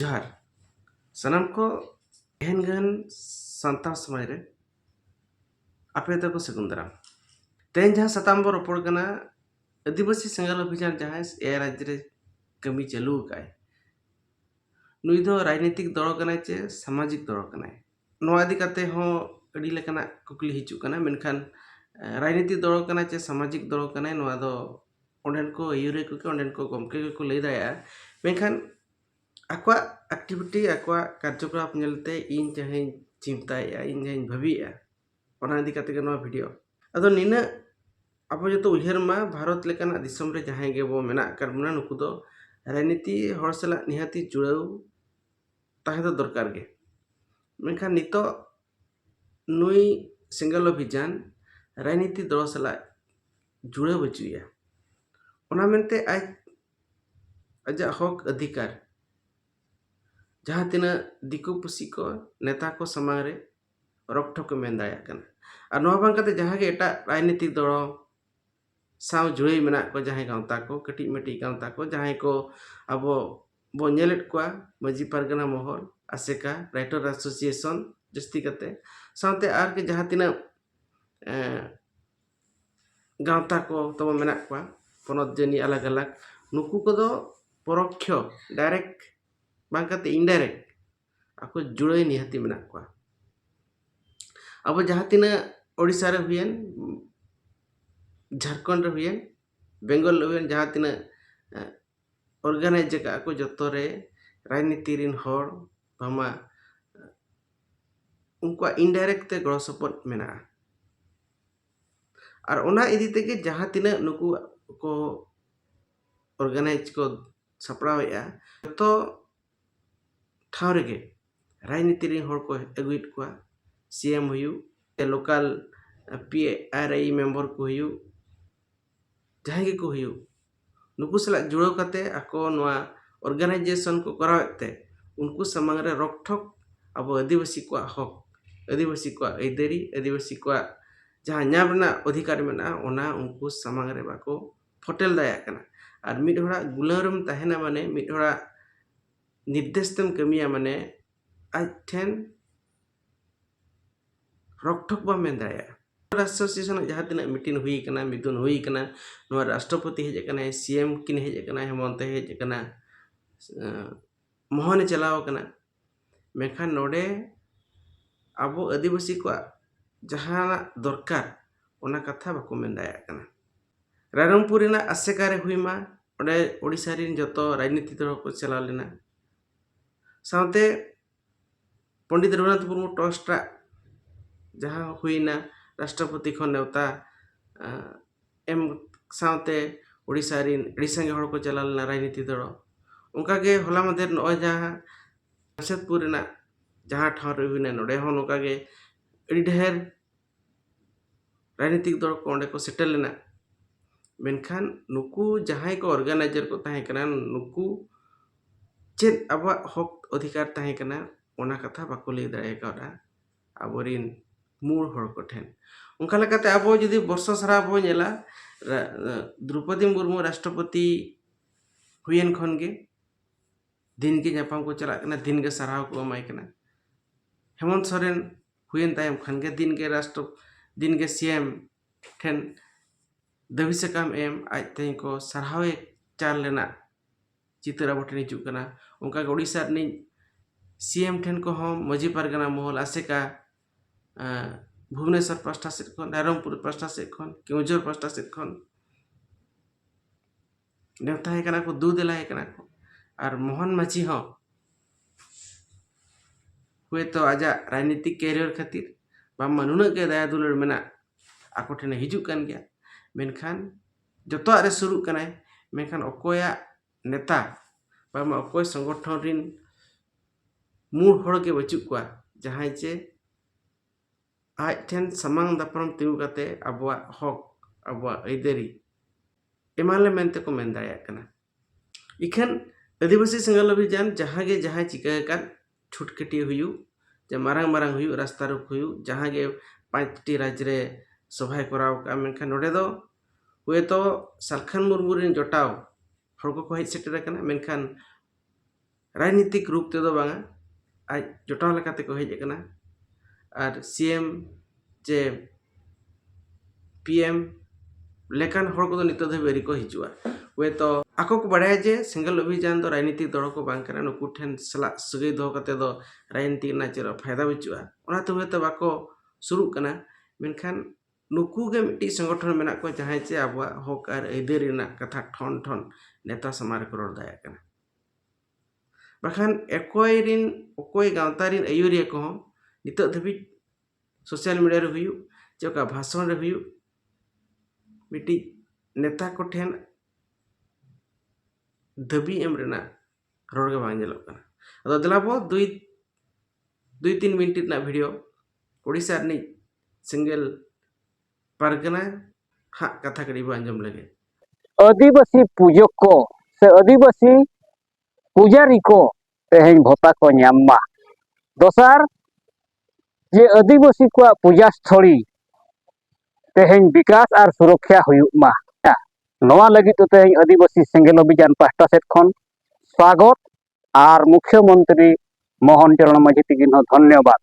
ᱡᱚᱦᱟᱨ ᱥᱟᱱᱟᱢ ᱠᱚ ᱮᱦᱮᱱ ᱜᱟᱱ ᱥᱟᱱᱛᱟᱲ ᱥᱚᱢᱟᱡᱽ ᱨᱮ ᱟᱯᱮ ᱫᱚᱠᱚ ᱥᱟᱹᱜᱩᱱ ᱫᱟᱨᱟᱢ ᱛᱮᱦᱮᱧ ᱡᱟᱦᱟᱸ ᱥᱟᱛᱟᱢ ᱵᱚ ᱨᱚᱯᱚᱲ ᱠᱟᱱᱟ ᱟᱹᱫᱤᱵᱟᱹᱥᱤ ᱥᱮᱸᱜᱮᱞ ᱚᱵᱷᱤᱡᱟᱱ ᱡᱟᱦᱟᱸᱭ ᱮᱭᱟᱭ ᱨᱟᱡᱽᱡᱚ ᱨᱮ ᱠᱟᱹᱢᱤ ᱪᱟᱹᱞᱩ ᱟᱠᱟᱫᱼᱟᱭ ᱱᱩᱭ ᱫᱚ ᱨᱟᱡᱽᱱᱤᱛᱤᱠ ᱫᱚᱞ ᱠᱟᱱᱟᱭ ᱪᱮ ᱥᱟᱢᱟᱡᱤᱠ ᱫᱚᱞ ᱠᱟᱱᱟᱭ ᱱᱚᱣᱟ ᱤᱫᱤ ᱠᱟᱛᱮ ᱦᱚᱸ ᱟᱹᱰᱤ ᱞᱮᱠᱟᱱᱟᱜ ᱠᱩᱠᱞᱤ ᱦᱤᱡᱩᱜ ᱠᱟᱱᱟ ᱢᱮᱱᱠᱷᱟᱱ ᱨᱟᱡᱽᱱᱤᱛᱤ ᱫᱚᱞ ᱠᱟᱱᱟᱭ ᱪᱮ ᱥᱟᱢᱟᱡᱤᱠ ᱫᱚᱞ ᱠᱟᱱᱟᱭ ᱱᱚᱣᱟ ᱫᱚ ᱚᱸᱰᱮᱱ ᱠᱚ ᱟᱹᱭᱩᱨᱤᱭᱟᱹ ᱠᱚᱜᱮ ᱚᱸᱰᱮᱱ ᱠᱚ ᱜᱚᱢᱠᱮ ᱜᱮᱠᱚ ᱞᱟᱹᱭ ᱫᱟᱲᱮᱭᱟᱜᱼᱟ ᱢᱮᱱᱠᱷᱟᱱ ᱟᱠᱚᱣᱟᱜ ᱮᱠᱴᱤᱵᱷᱤᱴᱤ ᱟᱠᱚᱣᱟᱜ ᱠᱟᱨᱡᱚᱠᱚᱞᱟᱯ ᱧᱮᱞᱛᱮ ᱤᱧ ᱡᱟᱦᱟᱧ ᱪᱤᱱᱛᱟᱹᱭᱮᱜᱼᱟ ᱤᱧ ᱡᱟᱦᱟᱧ ᱵᱷᱟᱹᱵᱤᱭᱮᱜᱼᱟ ᱚᱱᱟ ᱤᱫᱤ ᱠᱟᱛᱮ ᱜᱮ ᱱᱚᱣᱟ ᱵᱷᱤᱰᱤᱭᱳ ᱟᱫᱚ ᱱᱤᱱᱟᱹᱜ ᱟᱵᱚ ᱡᱚᱛᱚ ᱩᱭᱦᱟᱹᱨ ᱢᱟ ᱵᱷᱟᱨᱚᱛ ᱞᱮᱠᱟᱱᱟᱜ ᱫᱤᱥᱚᱢ ᱨᱮ ᱡᱟᱦᱟᱸᱭ ᱜᱮᱵᱚ ᱢᱮᱱᱟᱜ ᱟᱠᱟᱫ ᱵᱚᱱᱟ ᱱᱩᱠᱩ ᱫᱚ ᱨᱟᱡᱽᱱᱤᱛᱤ ᱦᱚᱲ ᱥᱟᱞᱟᱜ ᱱᱤᱦᱟᱹᱛᱤ ᱡᱩᱲᱟᱹᱣ ᱛᱟᱦᱮᱸ ᱫᱚ ᱫᱚᱨᱠᱟᱨ ᱜᱮ ᱢᱮᱱᱠᱷᱟᱱ ᱱᱤᱛᱚᱜ ᱱᱩᱭ ᱥᱮᱸᱜᱮᱞ ᱚᱵᱷᱤᱡᱟᱱ ᱨᱟᱡᱽᱱᱤᱛᱤ ᱫᱚᱞ ᱥᱟᱞᱟᱜ ᱡᱩᱲᱟᱹᱣ ᱵᱟᱹᱪᱩᱜ ᱮᱭᱟ ᱚᱱᱟ ᱢᱮᱱᱛᱮ ᱟᱡ ᱟᱡᱟᱜ ᱦᱚᱠ ᱟᱹᱫᱷᱤᱠᱟᱨ ᱡᱟᱦᱟᱸ ᱛᱤᱱᱟᱹᱜ ᱫᱤᱠᱩ ᱯᱩᱥᱤ ᱠᱚ ᱱᱮᱛᱟ ᱠᱚ ᱥᱟᱢᱟᱝ ᱨᱮ ᱨᱚᱠ ᱴᱷᱚᱠ ᱮ ᱢᱮᱱ ᱫᱟᱲᱮᱭᱟᱜ ᱠᱟᱱᱟ ᱟᱨ ᱱᱚᱣᱟ ᱵᱟᱝ ᱠᱟᱛᱮ ᱡᱟᱦᱟᱸ ᱜᱮ ᱮᱴᱟᱜ ᱨᱟᱡᱽᱱᱤᱛᱤ ᱫᱚᱞ ᱥᱟᱶ ᱡᱩᱲᱟᱹᱭ ᱢᱮᱱᱟᱜ ᱠᱚ ᱡᱟᱦᱟᱸᱭ ᱜᱟᱶᱛᱟ ᱠᱚ ᱠᱟᱹᱴᱤᱡ ᱢᱟᱹᱴᱤᱡ ᱜᱟᱶᱛᱟ ᱠᱚ ᱡᱟᱦᱟᱸᱭ ᱠᱚ ᱟᱵᱚ ᱵᱚ ᱧᱮᱞᱮᱫ ᱠᱚᱣᱟ ᱢᱟᱹᱡᱷᱤ ᱯᱟᱨᱜᱟᱱᱟ ᱢᱚᱦᱚᱞ ᱟᱥᱮᱠᱟ ᱨᱟᱭᱴᱟᱨ ᱮᱥᱳᱥᱤᱭᱮᱥᱚᱱ ᱡᱟᱹᱥᱛᱤ ᱠᱟᱛᱮ ᱥᱟᱶᱛᱮ ᱟᱨ ᱜᱮ ᱡᱟᱦᱟᱸ ᱛᱤᱱᱟᱹᱜ ᱜᱟᱶᱛᱟ ᱠᱚ ᱛᱟᱵᱚᱱ ᱢᱮᱱᱟᱜ ᱠᱚᱣᱟ ᱯᱚᱱᱚᱛ ᱡᱟᱹᱱᱤ ᱟᱞᱟᱜᱽ ᱟᱞᱟᱜᱽ ᱱᱩᱠᱩ ᱠᱚᱫᱚ ᱯᱚᱨᱚᱠᱠᱷᱚ ᱰᱟᱭᱨᱮᱠᱴ ᱵᱟᱝ ᱠᱟᱛᱮ ᱤᱱᱰᱟᱭᱨᱮᱠᱴ ᱟᱠᱚ ᱡᱩᱲᱟᱹᱭ ᱱᱤᱦᱟᱹᱛᱤ ᱢᱮᱱᱟᱜ ᱠᱚᱣᱟ ᱟᱵᱚ ᱡᱟᱦᱟᱸ ᱛᱤᱱᱟᱹᱜ ᱳᱰᱤᱥᱟ ᱨᱮ ᱦᱩᱭᱮᱱ ᱡᱷᱟᱲᱠᱷᱚᱸᱰ ᱨᱮ ᱦᱩᱭᱮᱱ ᱵᱮᱝᱜᱚᱞ ᱨᱮ ᱦᱩᱭᱮᱱ ᱡᱟᱦᱟᱸ ᱛᱤᱱᱟᱹᱜ ᱚᱨᱜᱟᱱᱟᱭᱤᱡᱽ ᱟᱠᱟᱫᱼᱟ ᱠᱚ ᱡᱚᱛᱚ ᱨᱮ ᱨᱟᱡᱽᱱᱤᱛᱤ ᱨᱮᱱ ᱦᱚᱲ ᱵᱟᱝᱢᱟ ᱩᱱᱠᱩᱣᱟᱜ ᱤᱱᱰᱟᱭᱨᱮᱠᱴ ᱛᱮ ᱜᱚᱲᱚ ᱥᱚᱯᱚᱦᱚᱫ ᱢᱮᱱᱟᱜᱼᱟ ᱟᱨ ᱚᱱᱟ ᱤᱫᱤ ᱛᱮᱜᱮ ᱡᱟᱦᱟᱸ ᱛᱤᱱᱟᱹᱜ ᱱᱩᱠᱩ ᱠᱚ ᱚᱨᱜᱟᱱᱟᱭᱤᱡᱽ ᱠᱚ ᱥᱟᱯᱲᱟᱣᱮᱫᱼᱟ ᱡᱚᱛᱚ ᱴᱷᱟᱶ ᱨᱮᱜᱮ ᱨᱟᱡᱽᱱᱤᱛᱤ ᱨᱮᱱ ᱦᱚᱲ ᱠᱚ ᱟᱹᱜᱩᱭᱮᱫ ᱠᱚᱣᱟ ᱥᱤ ᱮᱢ ᱦᱩᱭᱩᱜ ᱥᱮ local P R I member ᱠᱚ ᱦᱩᱭᱩᱜ ᱡᱟᱦᱟᱸᱭ ᱜᱮᱠᱚ ᱦᱩᱭᱩᱜ ᱱᱩᱠᱩ ᱥᱟᱞᱟᱜ ᱡᱩᱲᱟᱹᱣ ᱠᱟᱛᱮ ᱟᱠᱚ ᱱᱚᱣᱟ ᱚᱨᱜᱟᱱᱟᱭᱡᱮᱥᱚᱱ ᱠᱚ ᱠᱚᱨᱟᱣᱮᱫ ᱛᱮ ᱩᱱᱠᱩ ᱥᱟᱢᱟᱝ ᱨᱮ ᱨᱚᱠ ᱴᱷᱚᱠ ᱟᱵᱚ ᱟᱹᱫᱤᱵᱟᱹᱥᱤ ᱠᱚᱣᱟᱜ ᱦᱚᱠ ᱟᱹᱫᱤᱵᱟᱹᱥᱤ ᱠᱚᱣᱟᱜ ᱟᱹᱭᱫᱟᱹᱨᱤ ᱟᱹᱫᱤᱵᱟᱹᱥᱤ ᱠᱚᱣᱟᱜ ᱡᱟᱦᱟᱸ ᱧᱟᱢ ᱨᱮᱱᱟᱜ ᱚᱫᱷᱤᱠᱟᱨ ᱢᱮᱱᱟᱜᱼᱟ ᱚᱱᱟ ᱩᱱᱠᱩ ᱥᱟᱢᱟᱝ ᱨᱮ ᱵᱟᱠᱚ ᱯᱷᱳᱴᱮᱞ ᱫᱟᱲᱮᱭᱟᱜ ᱠᱟᱱᱟ ᱟᱨ ᱢᱤᱫ ᱦᱚᱲᱟᱜ ᱜᱩᱞᱟᱹᱣ ᱨᱮᱢ ᱛᱟᱦᱮᱱᱟ ᱢᱟᱱᱮ ᱢᱤᱫ ᱦᱚᱲᱟᱜ ᱱᱤᱨᱫᱮᱥ ᱛᱮᱢ ᱠᱟᱹᱢᱤᱭᱟ ᱢᱟᱱᱮ ᱟᱡ ᱴᱷᱮᱱ ᱨᱚᱠ ᱴᱷᱚᱠ ᱵᱟᱢ ᱢᱮᱱ ᱫᱟᱲᱮᱭᱟᱜᱼᱟ ᱨᱟᱥᱴᱨᱚᱯᱚᱛᱤ ᱥᱟᱞᱟᱜ ᱡᱟᱦᱟᱸ ᱛᱤᱱᱟᱹᱜ ᱢᱤᱴᱤᱝ ᱦᱩᱭ ᱠᱟᱱᱟ ᱢᱤᱫᱩᱱ ᱦᱩᱭ ᱠᱟᱱᱟ ᱱᱚᱣᱟ ᱨᱟᱥᱴᱨᱚᱯᱚᱛᱤ ᱦᱮᱡ ᱠᱟᱱᱟᱭ ᱥᱤ ᱮᱢ ᱠᱤᱱ ᱦᱮᱡ ᱠᱟᱱᱟ ᱦᱮᱢᱚᱱᱛᱚᱭ ᱦᱮᱡ ᱠᱟᱱᱟ ᱢᱳᱦᱚᱱᱮ ᱪᱟᱞᱟᱣ ᱠᱟᱱᱟ ᱢᱮᱱᱠᱷᱟᱱ ᱱᱚᱰᱮ ᱟᱵᱚ ᱟᱹᱫᱤᱵᱟᱹᱥᱤ ᱠᱚᱣᱟᱜ ᱡᱟᱦᱟᱱᱟᱜ ᱫᱚᱨᱠᱟᱨ ᱚᱱᱟ ᱠᱟᱛᱷᱟ ᱵᱟᱠᱚ ᱢᱮᱱ ᱫᱟᱲᱮᱭᱟᱜ ᱠᱟᱱᱟ ᱨᱟᱭᱨᱚᱝᱯᱩᱨ ᱨᱮᱱᱟᱜ ᱟᱥᱮᱠᱟ ᱨᱮ ᱦᱩᱭ ᱢᱟ ᱚᱸᱰᱮ ᱳᱰᱤᱥᱟ ᱨᱮᱱ ᱡᱚᱛᱚ ᱨᱟᱡᱽᱱᱤᱛᱤ ᱫᱚᱞ ᱠᱚ ᱪᱟᱞᱟᱣ ᱞᱮᱱᱟ ᱥᱟᱶᱛᱮ ᱯᱚᱱᱰᱤᱛ ᱨᱚᱜᱷᱩᱱᱟᱛᱷ ᱢᱩᱨᱢᱩ ᱴᱨᱟᱥᱴᱟᱜ ᱡᱟᱦᱟᱸ ᱦᱩᱭᱱᱟ ᱨᱟᱥᱴᱨᱚᱯᱚᱛᱤ ᱠᱷᱚᱱ ᱱᱮᱣᱛᱟ ᱮᱢ ᱥᱟᱶᱛᱮ ᱳᱰᱤᱥᱟ ᱨᱮᱱ ᱟᱹᱰᱤ ᱥᱟᱸᱜᱮ ᱦᱚᱲ ᱠᱚ ᱪᱟᱞᱟᱣ ᱞᱮᱱᱟ ᱨᱟᱡᱽᱱᱤᱛᱤ ᱫᱚᱞ ᱚᱱᱠᱟ ᱜᱮ ᱦᱚᱞᱟ ᱢᱟᱫᱷᱮᱨ ᱱᱚᱜᱼᱚᱭ ᱡᱟᱦᱟᱸ ᱡᱟᱢᱥᱮᱫᱽᱯᱩᱨ ᱨᱮᱱᱟᱜ ᱡᱟᱦᱟᱸ ᱴᱷᱟᱶ ᱨᱮ ᱦᱩᱭᱱᱟ ᱱᱚᱰᱮ ᱦᱚᱸ ᱱᱚᱝᱠᱟ ᱜᱮ ᱟᱹᱰᱤ ᱰᱷᱮᱨ ᱨᱟᱡᱽᱱᱤᱛᱤᱠ ᱫᱚᱞ ᱠᱚ ᱚᱸᱰᱮ ᱠᱚ ᱥᱮᱴᱮᱨ ᱞᱮᱱᱟ ᱢᱮᱱᱠᱷᱟᱱ ᱱᱩᱠᱩ ᱡᱟᱦᱟᱸᱭ ᱠᱚ ᱚᱨᱜᱟᱱᱟᱭᱤᱡᱟᱨ ᱠᱚ ᱛᱟᱦᱮᱸ ᱠᱟᱱᱟ ᱱᱩᱠᱩ ᱪᱮᱫ ᱟᱵᱚᱣᱟᱜ ᱦᱚᱠ ᱚᱫᱷᱤᱠᱟᱨ ᱛᱟᱦᱮᱸ ᱠᱟᱱᱟ ᱚᱱᱟ ᱠᱟᱛᱷᱟ ᱵᱟᱠᱚ ᱞᱟᱹᱭ ᱫᱟᱲᱮ ᱠᱟᱣᱫᱟ ᱟᱵᱚ ᱨᱤᱱ ᱢᱩᱬ ᱦᱚᱲ ᱠᱚ ᱴᱷᱮᱱ ᱚᱱᱠᱟ ᱞᱮᱠᱟᱛᱮ ᱟᱵᱚ ᱡᱩᱫᱤ ᱵᱚᱨᱥᱚ ᱥᱟᱨᱟ ᱵᱚᱱ ᱧᱮᱞᱟ ᱫᱨᱳᱣᱯᱚᱫᱤ ᱢᱩᱨᱢᱩ ᱨᱟᱥᱴᱨᱚᱯᱚᱛᱤ ᱦᱩᱭᱮᱱ ᱠᱷᱚᱱ ᱜᱮ ᱫᱤᱱ ᱜᱮ ᱧᱟᱯᱟᱢ ᱠᱚ ᱪᱟᱞᱟᱜ ᱠᱟᱱᱟ ᱫᱤᱱ ᱜᱮ ᱥᱟᱨᱦᱟᱣ ᱠᱚ ᱮᱢᱟᱭ ᱠᱟᱱᱟ ᱦᱮᱢᱚᱱᱛ ᱥᱚᱨᱮᱱ ᱦᱩᱭᱮᱱ ᱛᱟᱭᱚᱢ ᱠᱷᱟᱱ ᱜᱮ ᱫᱤᱱ ᱜᱮ ᱨᱟᱥᱴᱨᱚ ᱫᱤᱱ ᱜᱮ ᱥᱤ ᱮᱢ ᱴᱷᱮᱱ ᱫᱟᱹᱵᱤ ᱥᱟᱠᱟᱢ ᱮᱢ ᱟᱡ ᱛᱮᱜᱮ ᱠᱚ ᱥᱟᱨᱦᱟᱣᱮ ᱪᱟᱞ ᱞᱮᱱᱟ ᱪᱤᱛᱟᱹᱨ ᱟᱵᱚ ᱴᱷᱮᱱ ᱦᱤᱡᱩᱜ ᱠᱟᱱᱟ ᱚᱱᱠᱟ ᱜᱮ ᱳᱰᱤᱥᱟ ᱨᱤᱱᱤᱡ ᱥᱤ ᱮᱢ ᱴᱷᱮᱱ ᱠᱚᱦᱚᱸ ᱢᱟᱹᱡᱷᱤ ᱯᱟᱨᱜᱟᱱᱟ ᱢᱚᱦᱚᱞ ᱟᱥᱮᱠᱟ ᱵᱷᱩᱵᱽᱱᱮᱥᱚᱨ ᱯᱟᱥᱴᱟ ᱥᱮᱫ ᱠᱷᱚᱱ ᱨᱟᱭᱨᱚᱝᱯᱩᱨ ᱯᱟᱥᱴᱟ ᱥᱮᱫ ᱠᱷᱚᱱ ᱠᱮᱣᱡᱷᱳᱨ ᱯᱟᱥᱴᱟ ᱥᱮᱫ ᱠᱷᱚᱱ ᱱᱮᱣᱛᱟᱭᱮ ᱠᱟᱱᱟ ᱠᱚ ᱫᱩ ᱫᱮᱞᱟᱭᱮ ᱠᱟᱱᱟ ᱠᱚ ᱟᱨ ᱢᱳᱦᱚᱱ ᱢᱟᱹᱡᱷᱤ ᱦᱚᱸ ᱦᱳᱭᱛᱳ ᱟᱡᱟᱜ ᱨᱟᱡᱽᱱᱤᱛᱤᱠ ᱠᱮᱨᱤᱭᱚᱨ ᱠᱷᱟᱹᱛᱤᱨ ᱵᱟᱝᱢᱟ ᱱᱩᱱᱟᱹᱜ ᱜᱮ ᱫᱟᱭᱟ ᱫᱩᱞᱟᱹᱲ ᱢᱮᱱᱟᱜ ᱟᱠᱚ ᱴᱷᱮᱱᱮ ᱦᱤᱡᱩᱜ ᱠᱟᱱ ᱜᱮᱭᱟ ᱢᱮᱱᱠᱷᱟᱱ ᱡᱚᱛᱚᱣᱟᱜ ᱨᱮ ᱥᱩᱨᱩᱜ ᱠᱟᱱᱟᱭ ᱢᱮᱱᱠᱷᱟᱱ ᱚᱠᱚᱭᱟᱜ ᱱᱮᱛᱟ ᱵᱟᱝᱢᱟ ᱚᱠᱚᱭ ᱥᱚᱝᱜᱚᱴᱷᱚᱱ ᱨᱤᱱ ᱢᱩᱬ ᱦᱚᱲ ᱜᱮ ᱵᱟᱹᱪᱩᱜ ᱠᱚᱣᱟ ᱡᱟᱦᱟᱸᱭ ᱪᱮ ᱟᱡ ᱴᱷᱮᱱ ᱥᱟᱢᱟᱝ ᱫᱟᱯᱨᱟᱢ ᱛᱤᱸᱜᱩ ᱠᱟᱛᱮ ᱟᱵᱚᱣᱟᱜ ᱦᱚᱠ ᱟᱵᱚᱣᱟᱜ ᱟᱹᱭᱫᱟᱹᱨᱤ ᱮᱢᱟ ᱞᱮ ᱢᱮᱱᱛᱮ ᱠᱚ ᱢᱮᱱ ᱫᱟᱲᱮᱭᱟᱜ ᱠᱟᱱᱟ ᱤᱠᱷᱟᱹᱱ ᱟᱹᱫᱤᱵᱟᱹᱥᱤ ᱥᱮᱸᱜᱮᱞ ᱚᱵᱷᱤᱡᱟᱱ ᱡᱟᱦᱟᱸ ᱜᱮ ᱡᱟᱦᱟᱸᱭ ᱪᱤᱠᱟᱹ ᱟᱠᱟᱫ ᱪᱷᱩᱴ ᱠᱟᱹᱴᱤ ᱦᱩᱭᱩᱜ ᱡᱮ ᱢᱟᱨᱟᱝ ᱢᱟᱨᱟᱝ ᱦᱩᱭᱩᱜ ᱨᱟᱥᱛᱟ ᱨᱳᱠ ᱦᱩᱭᱩᱜ ᱡᱟᱦᱟᱸ ᱜᱮ ᱯᱟᱸᱪ ᱴᱤ ᱨᱟᱡᱽ ᱨᱮ ᱥᱚᱵᱷᱟᱭ ᱠᱚᱨᱟᱣ ᱟᱠᱟᱫᱼᱟ ᱢᱮᱱᱠᱷᱟᱱ ᱱᱚᱰᱮ ᱫᱚ ᱦᱳᱭᱛᱳ ᱥᱟᱞᱠᱷᱟᱱ ᱢᱩᱨᱢᱩ ᱨᱮᱱ ᱡᱚᱴᱟᱣ ᱦᱚᱲ ᱠᱚᱠᱚ ᱦᱮᱡ ᱥᱮᱴᱮᱨ ᱟᱠᱟᱱᱟ ᱢᱮᱱᱠᱷᱟᱱ ᱨᱟᱡᱽᱱᱤᱛᱤᱠ ᱨᱩᱯ ᱛᱮᱫᱚ ᱵᱟᱝᱟ ᱟᱡ ᱡᱚᱴᱟᱣ ᱞᱮᱠᱟ ᱛᱮᱠᱚ ᱦᱮᱡ ᱟᱠᱟᱱᱟ ᱟᱨ ᱥᱤ ᱮᱢ ᱪᱮ ᱯᱤ ᱮᱢ ᱞᱮᱠᱟᱱ ᱦᱚᱲ ᱠᱚᱫᱚ ᱱᱤᱛᱚᱜ ᱫᱷᱟᱹᱵᱤᱡ ᱟᱹᱣᱨᱤ ᱠᱚ ᱦᱤᱡᱩᱜᱼᱟ ᱦᱳᱭᱛᱳ ᱟᱠᱚ ᱠᱚ ᱵᱟᱲᱟᱭᱟ ᱡᱮ ᱥᱮᱸᱜᱮᱞ ᱚᱵᱷᱤᱡᱟᱱ ᱫᱚ ᱨᱟᱡᱽᱱᱤᱛᱤᱠ ᱫᱚᱞ ᱦᱚᱸᱠᱚ ᱵᱟᱝ ᱠᱟᱱᱟ ᱱᱩᱠᱩ ᱴᱷᱮᱱ ᱥᱟᱞᱟᱜ ᱥᱟᱹᱜᱟᱹᱭ ᱫᱚᱦᱚ ᱠᱟᱛᱮ ᱫᱚ ᱨᱟᱡᱽᱱᱤᱛᱤ ᱨᱮᱱᱟᱜ ᱪᱮᱫ ᱦᱚᱸ ᱯᱷᱟᱭᱫᱟ ᱵᱟᱹᱪᱩᱜᱼᱟ ᱚᱱᱟᱛᱮ ᱦᱳᱭᱛᱳ ᱵᱟᱠᱚ ᱥᱩᱨᱩᱜ ᱠᱟᱱᱟ ᱢᱮᱱᱠᱷᱟᱱ ᱱᱩᱠᱩ ᱜᱮ ᱢᱤᱫᱴᱤᱡ ᱥᱚᱝᱜᱚᱴᱷᱚᱱ ᱢᱮᱱᱟᱜ ᱠᱚᱣᱟ ᱡᱟᱦᱟᱸᱭ ᱪᱮ ᱟᱵᱚᱣᱟᱜ ᱦᱚᱸᱠ ᱟᱨ ᱟᱹᱭᱫᱟᱹᱨᱤ ᱨᱮᱱᱟᱜ ᱠᱟᱛᱷᱟ ᱴᱷᱚᱱ ᱴᱷᱚᱱ ᱱᱮᱛᱟ ᱥᱟᱢᱟᱝ ᱨᱮᱠᱚ ᱨᱚᱲ ᱫᱟᱲᱮᱭᱟᱜ ᱠᱟᱱᱟ ᱵᱟᱠᱷᱟᱱ ᱚᱠᱚᱭ ᱨᱮᱱ ᱚᱠᱚᱭ ᱜᱟᱶᱛᱟ ᱨᱮᱱ ᱟᱹᱭᱩᱨᱤᱭᱟᱹ ᱠᱚᱦᱚᱸ ᱱᱤᱛᱚᱜ ᱫᱷᱟᱹᱵᱤᱡ ᱥᱳᱥᱟᱞ ᱢᱤᱰᱤᱭᱟ ᱨᱮ ᱦᱩᱭᱩᱜ ᱪᱮ ᱚᱠᱟ ᱵᱷᱟᱥᱚᱱ ᱨᱮ ᱦᱩᱭᱩᱜ ᱢᱤᱫᱴᱤᱡ ᱱᱮᱛᱟ ᱠᱚᱴᱷᱮᱱ ᱫᱟᱹᱵᱤ ᱮᱢ ᱨᱮᱱᱟᱜ ᱨᱚᱲ ᱜᱮ ᱵᱟᱝ ᱧᱮᱞᱚᱜ ᱠᱟᱱᱟ ᱟᱫᱚ ᱫᱮᱞᱟ ᱵᱚᱱ ᱫᱩᱭ ᱫᱩᱭ ᱛᱤᱱ ᱢᱤᱱᱤᱴ ᱨᱮᱱᱟᱜ ᱵᱷᱤᱰᱤᱭᱳ ᱳᱰᱤᱥᱟ ᱨᱤᱱᱤᱡ ᱥᱤᱝᱜᱮᱞ ᱯᱟᱨᱜᱟᱱᱟ ᱦᱟᱜ ᱠᱟᱛᱷᱟ ᱠᱟᱹᱴᱤᱡ ᱵᱚ ᱟᱸᱡᱚᱢ ᱞᱮᱜᱮ ᱟᱹᱫᱤᱵᱟᱹᱥᱤ ᱯᱩᱡᱟᱹ ᱠᱚ ᱥᱮ ᱟᱹᱫᱤᱵᱟᱹᱥᱤ ᱯᱩᱡᱟᱨᱤ ᱠᱚ ᱛᱮᱦᱮᱧ ᱵᱷᱚᱛᱟ ᱠᱚ ᱧᱟᱢ ᱢᱟ ᱫᱚᱥᱟᱨ ᱡᱮ ᱟᱹᱫᱤᱵᱟᱹᱥᱤ ᱠᱚᱣᱟᱜ ᱯᱩᱡᱟ ᱥᱛᱷᱚᱞᱤ ᱛᱮᱦᱮᱧ ᱵᱤᱠᱟᱥ ᱟᱨ ᱥᱩᱨᱚᱠᱷᱟ ᱦᱩᱭᱩᱜ ᱢᱟ ᱱᱚᱣᱟ ᱞᱟᱹᱜᱤᱫ ᱛᱮ ᱛᱮᱦᱮᱧ ᱟᱹᱫᱤᱵᱟᱹᱥᱤ ᱥᱮᱸᱜᱮᱞ ᱚᱵᱷᱤᱡᱟᱱ ᱯᱟᱦᱴᱟ ᱥᱮᱫ ᱠᱷᱚᱱ ᱥᱟᱜᱚᱛ ᱟᱨ ᱢᱩᱠᱷᱭᱚ ᱢᱚᱱᱛᱨᱤ ᱢᱳᱦᱚᱱ ᱪᱚᱨᱚᱬ ᱢᱟᱹᱡᱷᱤ ᱛᱤᱠᱤᱱ ᱦᱚᱸ ᱫᱷᱚᱱᱭᱚᱵᱟᱫᱽ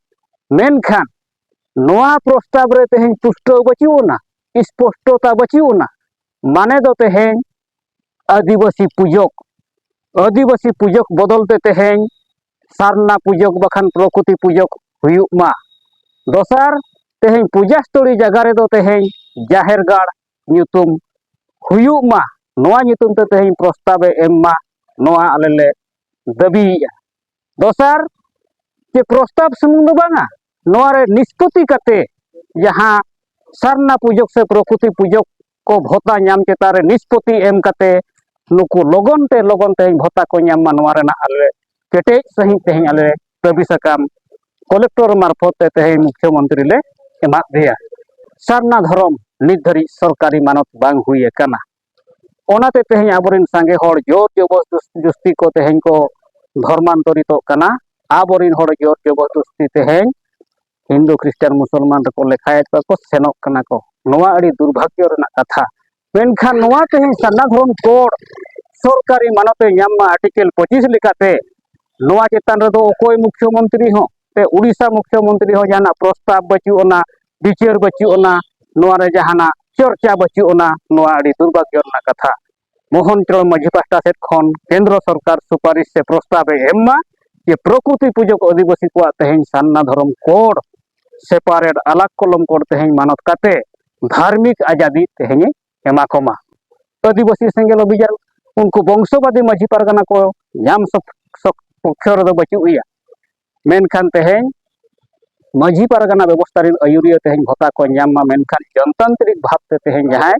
ᱢᱮᱱᱠᱷᱟᱱ ᱱᱚᱣᱟ ᱯᱨᱚᱥᱛᱟᱵᱽ ᱨᱮ ᱛᱮᱦᱮᱧ ᱯᱩᱥᱴᱟᱹᱣ ᱵᱟᱹᱪᱩᱜ ᱟᱱᱟ ᱥᱯᱚᱥᱴᱚᱛᱟ ᱵᱟᱹᱪᱩᱜ ᱟᱱᱟ ᱢᱟᱱᱮ ᱫᱚ ᱛᱮᱦᱮᱧ ᱟᱹᱫᱤᱵᱟᱹᱥᱤ ᱯᱩᱡᱚᱠ ᱟᱹᱫᱤᱵᱟᱹᱥᱤ ᱯᱩᱡᱚᱠ ᱵᱚᱫᱚᱞ ᱛᱮ ᱛᱮᱦᱮᱧ ᱥᱟᱨᱱᱟ ᱯᱩᱡᱚᱠ ᱵᱟᱠᱷᱟᱱ ᱯᱨᱚᱠᱨᱤᱛᱤ ᱯᱩᱡᱚᱠ ᱦᱩᱭᱩᱜ ᱢᱟ ᱫᱚᱥᱟᱨ ᱛᱮᱦᱮᱧ ᱯᱩᱡᱟᱥᱛᱚᱞᱤ ᱡᱟᱭᱜᱟ ᱨᱮᱫᱚ ᱛᱮᱦᱮᱧ ᱡᱟᱦᱮᱨ ᱜᱟᱲ ᱧᱩᱛᱩᱢ ᱦᱩᱭᱩᱜ ᱢᱟ ᱱᱚᱣᱟ ᱧᱩᱛᱩᱢ ᱛᱮ ᱛᱮᱦᱮᱧ ᱯᱨᱚᱥᱛᱟᱵᱮ ᱮᱢ ᱢᱟ ᱱᱚᱣᱟ ᱟᱞᱮ ᱞᱮ ᱫᱟᱹᱵᱤᱭᱮᱫᱼᱟ ᱫᱚᱥᱟᱨ ᱡᱮ ᱯᱨᱚᱥᱛᱟᱵ ᱥᱩᱢᱩᱝ ᱫᱚ ᱵᱟᱝᱟ ᱱᱚᱣᱟ ᱨᱮ ᱱᱤᱥᱯᱚᱛᱤ ᱠᱟᱛᱮ ᱡᱟᱦᱟᱸ ᱥᱟᱨᱱᱟ ᱯᱩᱡᱚᱠ ᱥᱮ ᱯᱨᱚᱠᱨᱤᱛᱤ ᱯᱩᱡᱚᱠ ᱠᱚ ᱵᱷᱚᱛᱟ ᱧᱟᱢ ᱪᱮᱛᱟᱱ ᱨᱮ ᱱᱤᱥᱯᱚᱛᱤ ᱮᱢ ᱠᱟᱛᱮ ᱱᱩᱠᱩ ᱞᱚᱜᱚᱱ ᱛᱮ ᱞᱚᱜᱚᱱ ᱛᱮ ᱵᱷᱚᱛᱟ ᱠᱚ ᱧᱟᱢ ᱢᱟ ᱱᱚᱣᱟ ᱨᱮᱱᱟᱜ ᱟᱞᱮ ᱠᱮᱴᱮᱡ ᱥᱟᱺᱦᱤᱡ ᱛᱮᱦᱮᱧ ᱟᱞᱮ ᱫᱟᱹᱵᱤ ᱥᱟᱠᱟᱢ ᱠᱚᱞᱮᱠᱴᱚᱨ ᱢᱟᱨᱯᱷᱚᱛ ᱛᱮ ᱛᱮᱦᱮᱧ ᱢᱩᱠᱷᱭᱚ ᱢᱚᱱᱛᱨᱤ ᱞᱮ ᱮᱢᱟᱫ ᱫᱮᱭᱟ ᱥᱟᱨᱱᱟ ᱫᱷᱚᱨᱚᱢ ᱱᱤᱛ ᱫᱷᱟᱹᱨᱤᱡ ᱥᱚᱨᱠᱟᱨᱤ ᱢᱟᱱᱚᱛ ᱵᱟᱝ ᱦᱩᱭ ᱟᱠᱟᱱᱟ ᱚᱱᱟᱛᱮ ᱛᱮᱦᱮᱧ ᱟᱵᱚᱨᱮᱱ ᱥᱟᱸᱜᱮ ᱦᱚᱲ ᱡᱳᱨ ᱡᱚᱵᱚᱥ ᱡᱩᱥᱛᱤ ᱠᱚ ᱛᱮᱦᱮᱧ ᱠᱚ ᱫᱷᱚᱨᱢᱟᱱᱛᱚᱨᱤᱛᱚᱜ ᱠᱟᱱᱟ ᱟᱵᱚᱨᱮᱱ ᱦᱚᱲ ᱡᱳᱨ ᱡᱚᱵᱚᱥ ᱡᱩᱥᱛᱤ ᱛᱮᱦᱮᱧ ᱦᱤᱱᱫᱩ ᱠᱷᱨᱤᱥᱴᱟᱱ ᱢᱩᱥᱚᱞᱢᱟᱱ ᱨᱮᱠᱚ ᱞᱮᱠᱷᱟᱭᱮᱫ ᱠᱚᱣᱟ ᱠᱚ ᱥᱮᱱᱚᱜ ᱠᱟᱱᱟ ᱠᱚ ᱱᱚᱣᱟ ᱟᱹᱰᱤ ᱫᱩᱨᱵᱷᱟᱜᱽᱭᱚ ᱨᱮᱱᱟᱜ ᱠᱟᱛᱷᱟ ᱢᱮᱱᱠᱷᱟᱱ ᱱᱚᱣᱟ ᱛᱮᱦᱮᱧ ᱥᱟᱨᱱᱟ ᱫᱷᱚᱨᱚᱢ ᱠᱳᱰ ᱥᱚᱨᱠᱟᱨᱤ ᱢᱟᱱᱚᱛ ᱮ ᱧᱟᱢ ᱢᱟ ᱟᱨᱴᱤᱠᱮᱞ ᱯᱚᱸᱪᱤᱥ ᱞᱮᱠᱟᱛᱮ ᱱᱚᱣᱟ ᱪᱮᱛᱟᱱ ᱨᱮᱫᱚ ᱚᱠᱚᱭ ᱢᱩᱠᱷᱭᱚ ᱢᱚᱱᱛᱨᱤ ᱦᱚᱸ ᱥᱮ ᱩᱲᱤᱥᱥᱟ ᱢᱩᱠᱷᱭᱚ ᱢᱚᱱᱛᱨᱤ ᱦᱚᱸ ᱡᱟᱦᱟᱱᱟᱜ ᱯᱨᱚᱥᱛᱟᱵ ᱵᱟᱹᱪᱩᱜ ᱟᱱᱟ ᱵᱤᱪᱟᱹᱨ ᱵᱟᱹᱪᱩᱜ ᱟᱱᱟ ᱱᱚᱣᱟ ᱨᱮ ᱡᱟᱦᱟᱱᱟᱜ ᱪᱚᱨᱪᱟ ᱵᱟᱹᱪᱩᱜ ᱟᱱᱟ ᱱᱚᱣᱟ ᱟᱹᱰᱤ ᱫᱩᱨᱵᱷᱟᱜᱽᱭᱚ ᱨᱮᱱᱟᱜ ᱠᱟᱛᱷᱟ ᱢᱳᱦᱚᱱ ᱪᱚᱨᱚᱱ ᱢᱟᱹᱡᱷᱤ ᱯᱟᱦᱴᱟ ᱥᱮᱫ ᱠᱷᱚᱱ ᱠᱮᱱᱫᱨᱚ ᱥᱚᱨᱠᱟᱨ ᱥᱩᱯᱟᱨᱤᱥ ᱥᱮ ᱯᱨᱚᱥᱛᱟᱵ ᱮ ᱮᱢ ᱢᱟ ᱡᱮ ᱯᱨᱚᱠᱨᱩᱛᱤ ᱯᱩᱡᱚᱠ ᱟᱹᱫᱤᱵᱟᱹᱥᱤ ᱠᱚᱣᱟᱜ ᱛᱮᱦᱮᱧ ᱥᱟᱨᱱᱟ ᱫᱷᱚᱨᱚᱢ ᱠᱳᱰ ᱥᱮᱯᱟᱨᱮᱴ ᱟᱞᱟᱜ ᱠᱚᱞᱚᱢ ᱠᱳᱰ ᱛᱮᱦᱮᱧ ᱢᱟᱱᱚᱛ ᱠᱟᱛᱮ ᱫᱷᱟᱨᱢᱤᱠ ᱟᱡᱟᱫᱤ ᱛᱮᱦᱮᱧ ᱮᱢᱟ ᱠᱚᱢᱟ ᱟᱹᱫᱤᱵᱟᱹᱥᱤ ᱥᱮᱸᱜᱮᱞ ᱚᱵᱷᱤᱡᱟᱱ ᱩᱱᱠᱩ ᱵᱚᱝᱥᱚᱵᱟᱫᱤ ᱢᱟᱹᱡᱷᱤ ᱯᱟᱨᱜᱟᱱᱟ ᱠᱚ ᱧᱟᱢ ᱯᱚᱠᱠᱷᱚ ᱨᱮᱫᱚ ᱵᱟᱹᱪᱩᱜ ᱮᱭᱟ ᱢᱮᱱᱠᱷᱟᱱ ᱛᱮᱦᱮᱧ ᱢᱟᱹᱡᱷᱤ ᱯᱟᱨᱜᱟᱱᱟ ᱵᱮᱵᱚᱥᱛᱷᱟ ᱨᱮᱱ ᱟᱹᱭᱩᱨᱤᱭᱟᱹ ᱛᱮᱦᱮᱧ ᱵᱷᱚᱛᱟ ᱠᱚ ᱧᱟᱢ ᱢᱟ ᱢᱮᱱᱠᱷᱟᱱ ᱡᱚᱱᱛᱟᱱᱛᱨᱤᱠ ᱵᱷᱟᱵᱛᱮ ᱛᱮᱦᱮᱧ ᱡᱟᱦᱟᱸᱭ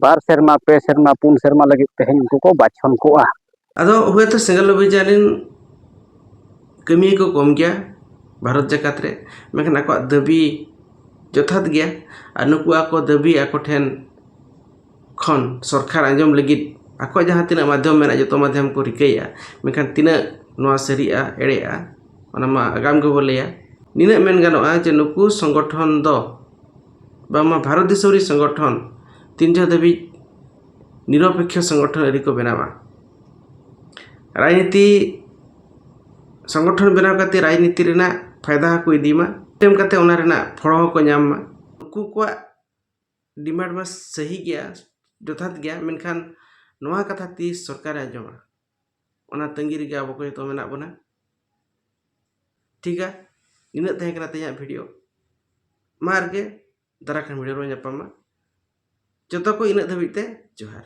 ᱵᱟᱨ ᱥᱮᱨᱢᱟ ᱯᱮ ᱥᱮᱨᱢᱟ ᱯᱩᱱ ᱥᱮᱨᱢᱟ ᱞᱟᱹᱜᱤᱫ ᱛᱮᱦᱮᱧ ᱩᱱᱠᱩ ᱠᱚ ᱵᱟᱪᱷᱚᱱ ᱠᱚᱜᱼᱟ ᱟᱫᱚ ᱦᱳᱭᱛᱳ ᱥᱮᱸᱜᱮᱞ ᱚᱵᱷᱤᱡᱟᱱ ᱨᱮᱱ ᱠᱟᱹᱢᱤᱭᱟᱹ ᱠᱚ ᱠᱚᱢ ᱜᱮᱭᱟ ᱵᱷᱟᱨᱚᱛ ᱡᱟᱠᱟᱛ ᱨᱮ ᱢᱮᱱᱠᱷᱟᱱ ᱟᱠᱚᱣᱟᱜ ᱫᱟᱹᱵᱤ ᱡᱚᱛᱷᱟᱛ ᱜᱮᱭᱟ ᱟᱨ ᱱᱩᱠᱩ ᱟᱠᱚ ᱫᱟᱹᱵᱤ ᱟᱠᱚ ᱴᱷᱮᱱ ᱠᱷᱚᱱ ᱥᱚᱨᱠᱟᱨ ᱟᱸᱡᱚᱢ ᱞᱟᱹᱜᱤᱫ ᱟᱠᱚᱣᱟᱜ ᱡᱟᱦᱟᱸ ᱛᱤᱱᱟᱹᱜ ᱢᱟᱫᱽᱫᱷᱚᱢ ᱢᱮᱱᱟᱜᱼᱟ ᱡᱚᱛᱚ ᱢᱟᱫᱽᱫᱷᱚᱢ ᱠᱚ ᱨᱤᱠᱟᱹᱭᱮᱫᱼᱟ ᱢᱮᱱᱠᱷᱟᱱ ᱛᱤᱱᱟᱹᱜ ᱱᱚᱣᱟ ᱥᱟᱹᱨᱤᱜᱼᱟ ᱮᱲᱮᱜᱼᱟ ᱚᱱᱟ ᱢᱟ ᱟᱜᱟᱢ ᱜᱮᱵᱚ ᱞᱟᱹᱭᱟ ᱱᱤᱱᱟᱹᱜ ᱢᱮᱱ ᱜᱟᱱᱚᱜᱼᱟ ᱡᱮ ᱱᱩᱠᱩ ᱥᱚᱝᱜᱚᱴᱷᱚᱱ ᱫᱚ ᱵᱟᱝᱢᱟ ᱵᱷᱟᱨᱚᱛ ᱫᱤᱥᱚᱢ ᱨᱮᱱ ᱥᱚᱝᱜᱚᱴᱷᱚᱱ ᱛᱤᱱ ᱡᱚᱦᱚᱜ ᱫᱷᱟᱹᱵᱤᱡ ᱱᱤᱨᱚᱯᱮᱠᱠᱷᱚ ᱥᱚᱝᱜᱚᱴᱷᱚᱱ ᱟᱹᱣᱨᱤ ᱠᱚ ᱵᱮᱱᱟᱣᱟ ᱨᱟᱡᱽᱱᱤᱛᱤ ᱥᱚᱝᱜᱚᱴᱷᱚᱱ ᱵᱮᱱᱟᱣ ᱠᱟᱛᱮᱫ ᱨᱟᱡᱽᱱᱤᱛᱤ ᱨᱮᱱᱟᱜ ᱯᱷᱟᱭᱫᱟ ᱦᱚᱸᱠᱚ ᱤᱫᱤ ᱢᱟ ᱮᱢ ᱠᱟᱛᱮᱫ ᱚᱱᱟ ᱨᱮᱱᱟᱜ ᱯᱷᱚᱞ ᱦᱚᱸᱠᱚ ᱧᱟᱢ ᱢᱟ ᱩᱱᱠᱩ ᱠᱚᱣᱟᱜ ᱰᱤᱢᱟᱱᱰ ᱢᱟ ᱥᱟᱹᱦᱤ ᱜᱮᱭᱟ ᱡᱚᱛᱷᱟᱛ ᱜᱮᱭᱟ ᱢᱮᱱᱠᱷᱟᱱ ᱱᱚᱣᱟ ᱠᱟᱛᱷᱟ ᱛᱤᱥ ᱥᱚᱨᱠᱟᱨᱮ ᱟᱸᱡᱚᱢᱟ ᱚᱱᱟ ᱛᱟᱺᱜᱤ ᱨᱮᱜᱮ ᱟᱵᱚ ᱠᱚ ᱡᱚᱛᱚ ᱢᱮᱱᱟᱜ ᱵᱚᱱᱟ ᱴᱷᱤᱠᱟ ᱱᱤᱱᱟᱹᱜ ᱛᱟᱦᱮᱸ ᱠᱟᱱᱟ ᱛᱮᱦᱮᱧᱟᱜ ᱵᱷᱤᱰᱤᱭᱳ ᱢᱟ ᱟᱨ ᱜᱮ ᱫᱟᱨᱟᱭ ᱠᱟᱱ ᱵᱷᱤᱰᱤᱭᱳ ᱨᱮᱵᱚᱱ ᱧᱟᱯᱟᱢᱟ ᱡᱚᱛᱚ ᱠᱚ ᱤᱱᱟᱹᱜ ᱫᱷᱟᱹᱵᱤᱡ ᱛᱮ ᱡᱚᱦᱟᱨ